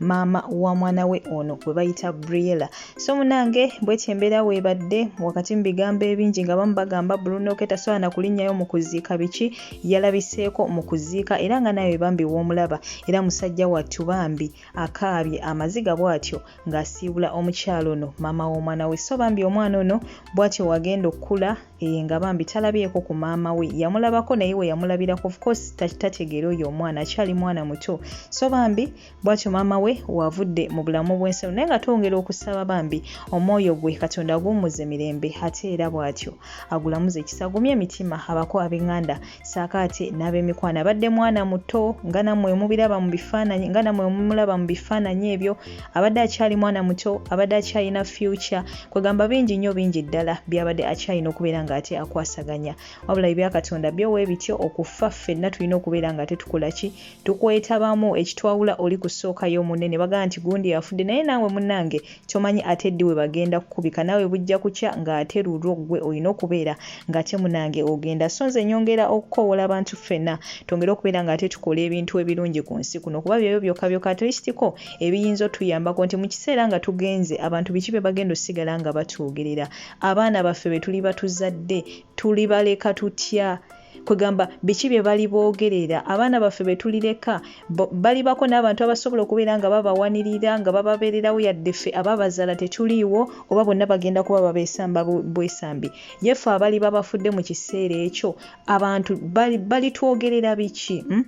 maama wa mwana we ono gwe bayita briella so munange bwetyo embeera weebadde wakati mu bigambo ebingi nga bamu bagamba brunoke tasobola na kulinnyayo mu kuziika biki yalabiseeko mu kuziika era nga nawe bambi woomulaba era musajja wattu bambi akaabye amaziga bw'atyo ng'asiibula omukyalo ono maama w'omwana we so bambi omwana ono bw'atyo wagenda okukula Eh, nga bambi talabyeko ku maama we yamulabako naye we yamulabirako ofcourse tategeera oyo omwana akyali mwana muto so bambi bwatyo maama we wavudde mu bulamu bwensalo naye nga twongera okusaba bambi omwoyo gwe katonda aguwumuze mirembe ate era bwatyo agulamuze ekisagumye emitima abako abenganda saakaati n'abemikwano abadde mwana muto nga nammwe mubiraba mu bifaananyi nga nammwe mumulaba mu bifaananyi ebyo abadde akyali mwana muto abadde akyalina future kwegamba bingi nnyo bingi ddala byabadde akyalina okubeera ng'ate akwasaganya wabula ebyakatonda byo we bityo okufa ffenna tulina okubeera nga tetukola ki tukwetabamu ekitwawula oli kusookayo munene bagamba nti gundi afudde naye naawe munange tomanyi ate ddi webagenda kukubika nawe bujja kukya nga ate lulwo gwe olina okubeera nga ate munange ogenda so nze nyongera okukowoola abantu ffena twongere okubeera nga ate tukola ebintu ebirungi ku nsi kuno kuba byebyo byokka byokka atulisitiko ebiyinza otuyambako nti mu kiseera nga tugenze abantu biki bye bagenda osigala nga batwogerera abaana baffe be tuli batuzadde tulibaleka tutya kwegamba biki bye bali boogerera abaana baffe be tulireka balibako n'abantu abasobola okubeera nga babawanirira nga bababeererawo yadde ffe ababazaala tetuliiwo oba bonna bagenda kuba babeesamba bwesambi ye ffe abali babafudde mu kiseera ekyo abantu balitwogerera biki hmm?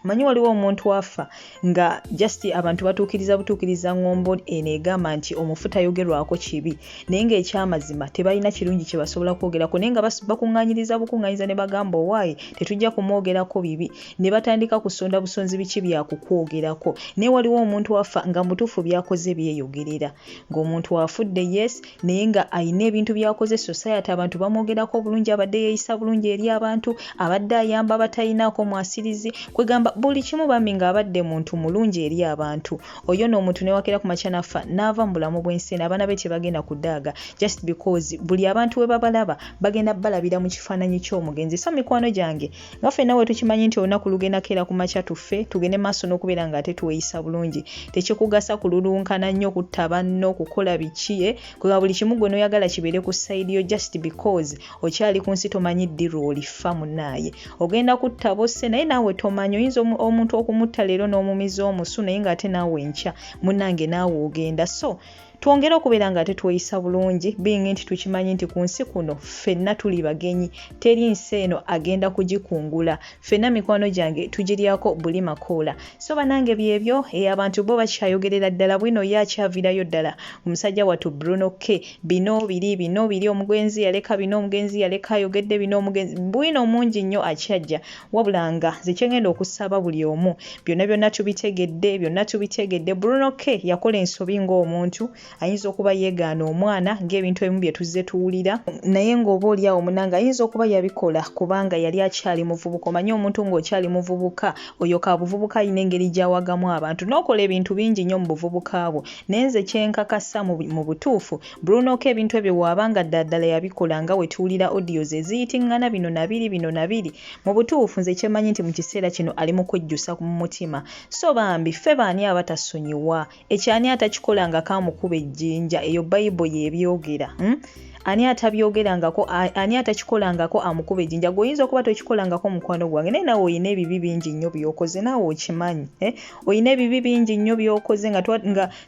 manyi waliwo omuntu afa nga just abantu batuukiriza butuukiriza ngombo eno egamba nti omufu tayogerwako kibi naye ngaekyamazima tebalina kirungi kyebasobola kwogerako naye nga bakuŋanyiriza bukuŋanyiza ne bagamba owaayi tetujja kumwogerako bibi ne batandika kusonda busonzi biki byakukwogerako naye waliwo omuntu afa nga mutuufu byakoze byeyogerera ng'omuntu afudde yes naye nga alina ebintu byakoze society abantu bamwogerako obulungi abadde yeeyisa bulungi eri abantu abadde ayamba abatalinaako mwasirizi kwegamba buli kimu bambi ng'abadde muntu mulungi eri abantu oyo no omuntu newakera ku makya nafa n'ava mu bulamu bw'ensi eno abaana be tebagenda kudaaga just because buli abantu we babalaba bagenda balabira mu kifaananyi ky'omugenzi so mikwano gyange nga ffe nawe tukimanyi nti olunaku lugenda keera ku makya tuffe tugende maaso n'okubeera nga ate tweyisa bulungi tekikugasa kululunkana nnyo kutta banno kukola biki eh? kuba buli kimu gwe noyagala kibeere ku side yo just because okyali ku nsi tomanyi ddi lwolifa munaaye ogenda kutta bosse naye naawe tomanyi oyinza omuntu okumutta leero n'omumiza omusu naye nga ate naawe enkya munange naawe ogenda so twongere okubeera nga ate tweyisa bulungi biyinga nti tukimanyi nti ku nsi kuno ffenna tuli bagenyi teri nsi eno agenda kugikungula ffenna mikwano gyange tugiryako buli makoola so banange byebyo e abantu bo bakyayogerera ddala bwino ye akyavirayo ddala omusajja wattu bruno k bino biri bino biri omugwenzi yaleka bino omugenzi yaleka ayogedde bino omugenzi bwino omungi nnyo akyajja wabula nga nze kyengenda okusaba buli omu byonna byonna tubitegedde byonna tubitegedde bruno k yakola ensobi ng'omuntu ayinza okuba yeegaana omwana ng'ebintu ebimu bye tuzze tuwulira naye ng'oba oli awo munanga ayinza okuba yabikola kubanga yali akyali muvubuka omanye omuntu ng'okyali muvubuka oyo ka buvubuka alina engeri gyawagamu abantu n'okola ebintu bingi nnyo mu buvubuka bwo naye nze kyenkakasa mu butuufu Bruno ko ebintu ebyo waaba nga ddaadala yabikola nga wetuwulira audios eziyitingana bino nabiri bino nabiri mu butuufu nze kyemanyi nti mu kiseera kino ali mu kwejjusa mu mutima so bambi ffe baani abatasonyiwa ekyo ani atakikola nga kaamukuba ejjinja eyo bayibo yebyogera hmm? ani atabyogerangako ani atakikolangako amukuba ejjinja gwe oyinza okuba tokikolangako mukwano gwange naye nawe olina ebibi bingi nnyo byokoze naawe okimanyi eh? olina ebibi bingi nnyo byokoze nga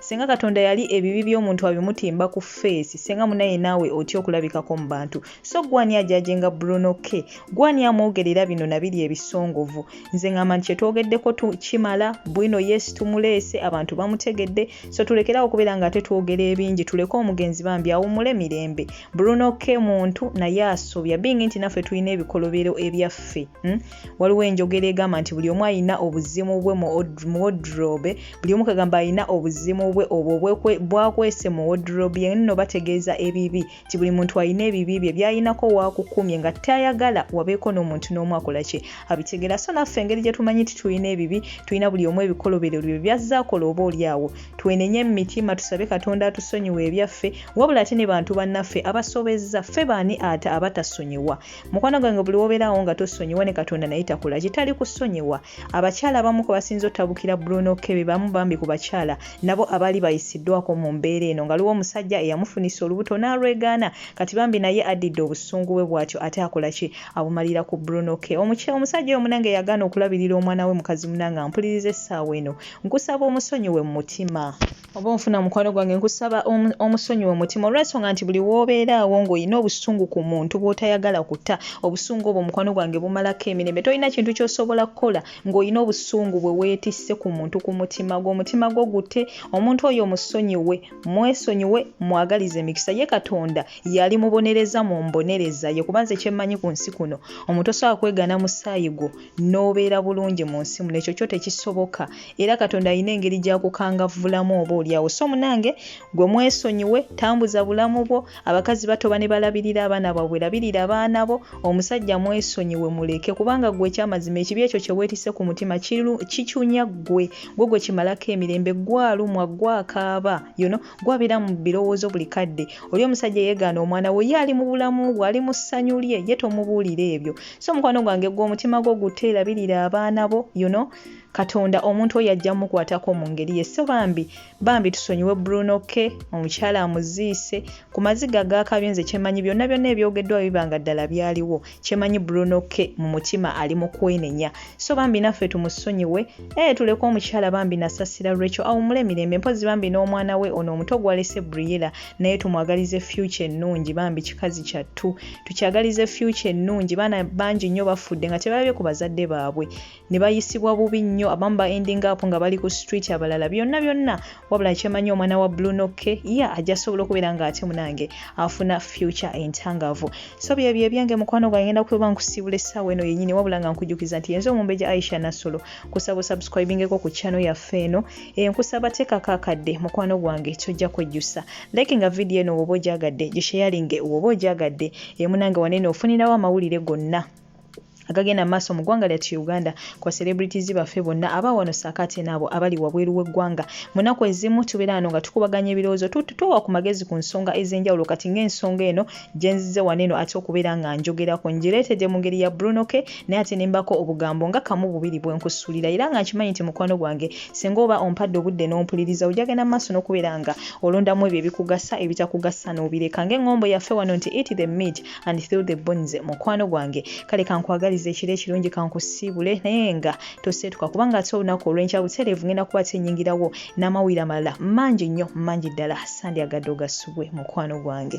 Senga katonda yali ebibi by'omuntu abimutimba ku face senga munaye naawe otya okulabikako mu bantu so gwani ajajenga bruno k gwani amwogerera bino nabiri ebisongovu nze ngamba nti kyetwogeddeko kimala bwino yes tumuleese abantu bamutegedde so tulekerawo okubeera nga ate twogera ebingi tuleke omugenzi bambi awumule mirembe bruno k muntu naye asobya bingi nti naffe tulina ebikolobero ebyaffe hmm? waliwo enjogera egamba nti buli omu alina obuzimu bwe mu wodrobe buli omu kagamba alina obuzimu bwe obwo bwakwese mu wodrobe ye nno bategeeza ebibi nti buli muntu alina ebibi bye byalinako waakukumye nga tayagala wabeeko n'omuntu n'omu akola kye abitegera so naffe engeri gye tumanyi nti tulina ebibi tulina buli omu ebikolobero bye byazza akola oba oli awo twenenye mu mitima tusabe katonda atusonyiwa ebyaffe wabula ate ne bantu bannaffe abasobezza ffe baani ate abatasonyiwa mukwano gwange buli wobeerawo nga tosonyiwa ne katonda naye takola kitali kusonyiwa abakyala abamu kwe basinza otabukira bruno kebe bamu bambi ku bakyala nabo abaali bayisiddwako mu mbeera eno ngaliwo omusajja eyamufunisa olubuto n'alwegaana kati bambi naye addidde obusungu bwe bwatyo ate akola ki abumalira ku bruno ke omuky omusajja oyo munange yagaana okulabirira omwana we mukazi munange ampuliriza essaawa eno nkusaba omusonyiwe mu mutima oba onfuna mukwano gwange nkusaba omusonyiwa omutima olwensonga nti buli wobeeraawo ngaolina obusungu ku muntu bwotayagala kuta obusungu obwo mukwano gwange bumalako emirembe tolina kintu kyosobola kukola ngaolina obusungu bwe weetisse ku muntu ku mutima gwe omutima gwo gute omuntu oyo omusonyiwe mwesonyiwe mwagaliza emikisa ye katonda yali mubonereza mu mbonereza ye kubanze kyemmanyi ku nsi kuno omuntu osobola kwegana musaayi gwo n'obeera bulungi mu nsi muno ekyo kyo tekisoboka era katonda alina engeri gyakukangavvulamu oba olyawo so munange gwe mwesonyiwe tambuza bulamu bwo abakazi batoba ne balabirira abaana babwe labirira abaana bo omusajja mwesonyiwe muleke kubanga gwe ekyamazima ekibi ekyo kye weetise ku mutima kicunya ggwe gwe gwe kimalako emirembe gwalumwa gwakaaba yono gwabeera mu birowoozo buli kadde oli omusajja yeegaana omwana we ye ali mu bulamu bwe ali mu ssanyu lye ye tomubuulira ebyo so mukwano gwange gwe omutima gwo gutte erabirira abaana bo you know katonda omuntu oyo ajja mukwatako mu ngeri ye so bambi bambi tusonyiwe bruno ke omukyala amuziise ku maziga gaakabyo nze kyemanyi byonna byonna ebyogeddwa bibanga ddala byaliwo kyemanyi bruno ke mu mutima ali mu kwenenya so bambi naffe tumusonyiwe ee eh, tuleke omukyala bambi nasasira rachel awumule emirembe mpozi bambi n'omwana we ono omuto gwalese briela naye tumwagalize future ennungi bambi kikazi kyattu tukyagalize future ennungi baana bangi nnyo bafudde nga tebalabye ku bazadde baabwe ne bayisibwa bubi nnyo abamu ba ending up nga bali ku street abalala byonna byonna wabula kyemanyi omwana wa blunokke ye yeah, ajja sobola okubeera nga ate munange afuna future entangavu so byebyo ebyange mukwano gwange ngenda kuba nkusiibula essaawa eno yennyini wabula nga nkujukiza nti yenze omumbeja aisha nassolo kusaba osubscribingeko ku channel yaffe eno eyo nkusaba tekako akadde mukwano gwange kyojja kwejjusa like nga vidiyo eno woba ogyagadde gisheyalinge woba ogyagadde emunange wanene ofunirawo amawulire gonna agagenda mu maaso mu ggwanga lyattu uganda kwa celebrities baffe bonna aba wano saako ate naabo abali wabweru w'eggwanga mu nnaku ezimu tubeera wano nga tukubaganya ebirowoozo tuwa ku magezi ku nsonga ez'enjawulo kati ng'ensonga eno gye nzize wano eno ate okubeera nga njogerako ngireetedde mu ngeri ya bruno ke naye ate nembako obugambo nga kamu bubiri bwe nkusuulira era nga nkimanyi nti mukwano gwange singa oba ompadde obudde n'ompuliriza ojagenda mu maaso n'okubeera nga olondamu ebyo ebikugasa ebitakugasa n'obireka ng'eŋŋombo yaffe wano nti eat the meat and through the bones mukwano gwange kale kankwagaliza ekiro ekirungi kankusiibule naye nga toseetuka kubanga ate olunaku olw'enkya butereevu ngenda kuba tenyingirawo n'amawulire amalala mangi nnyo mangi ddala sandyagadde ogasubwe mukwano gwange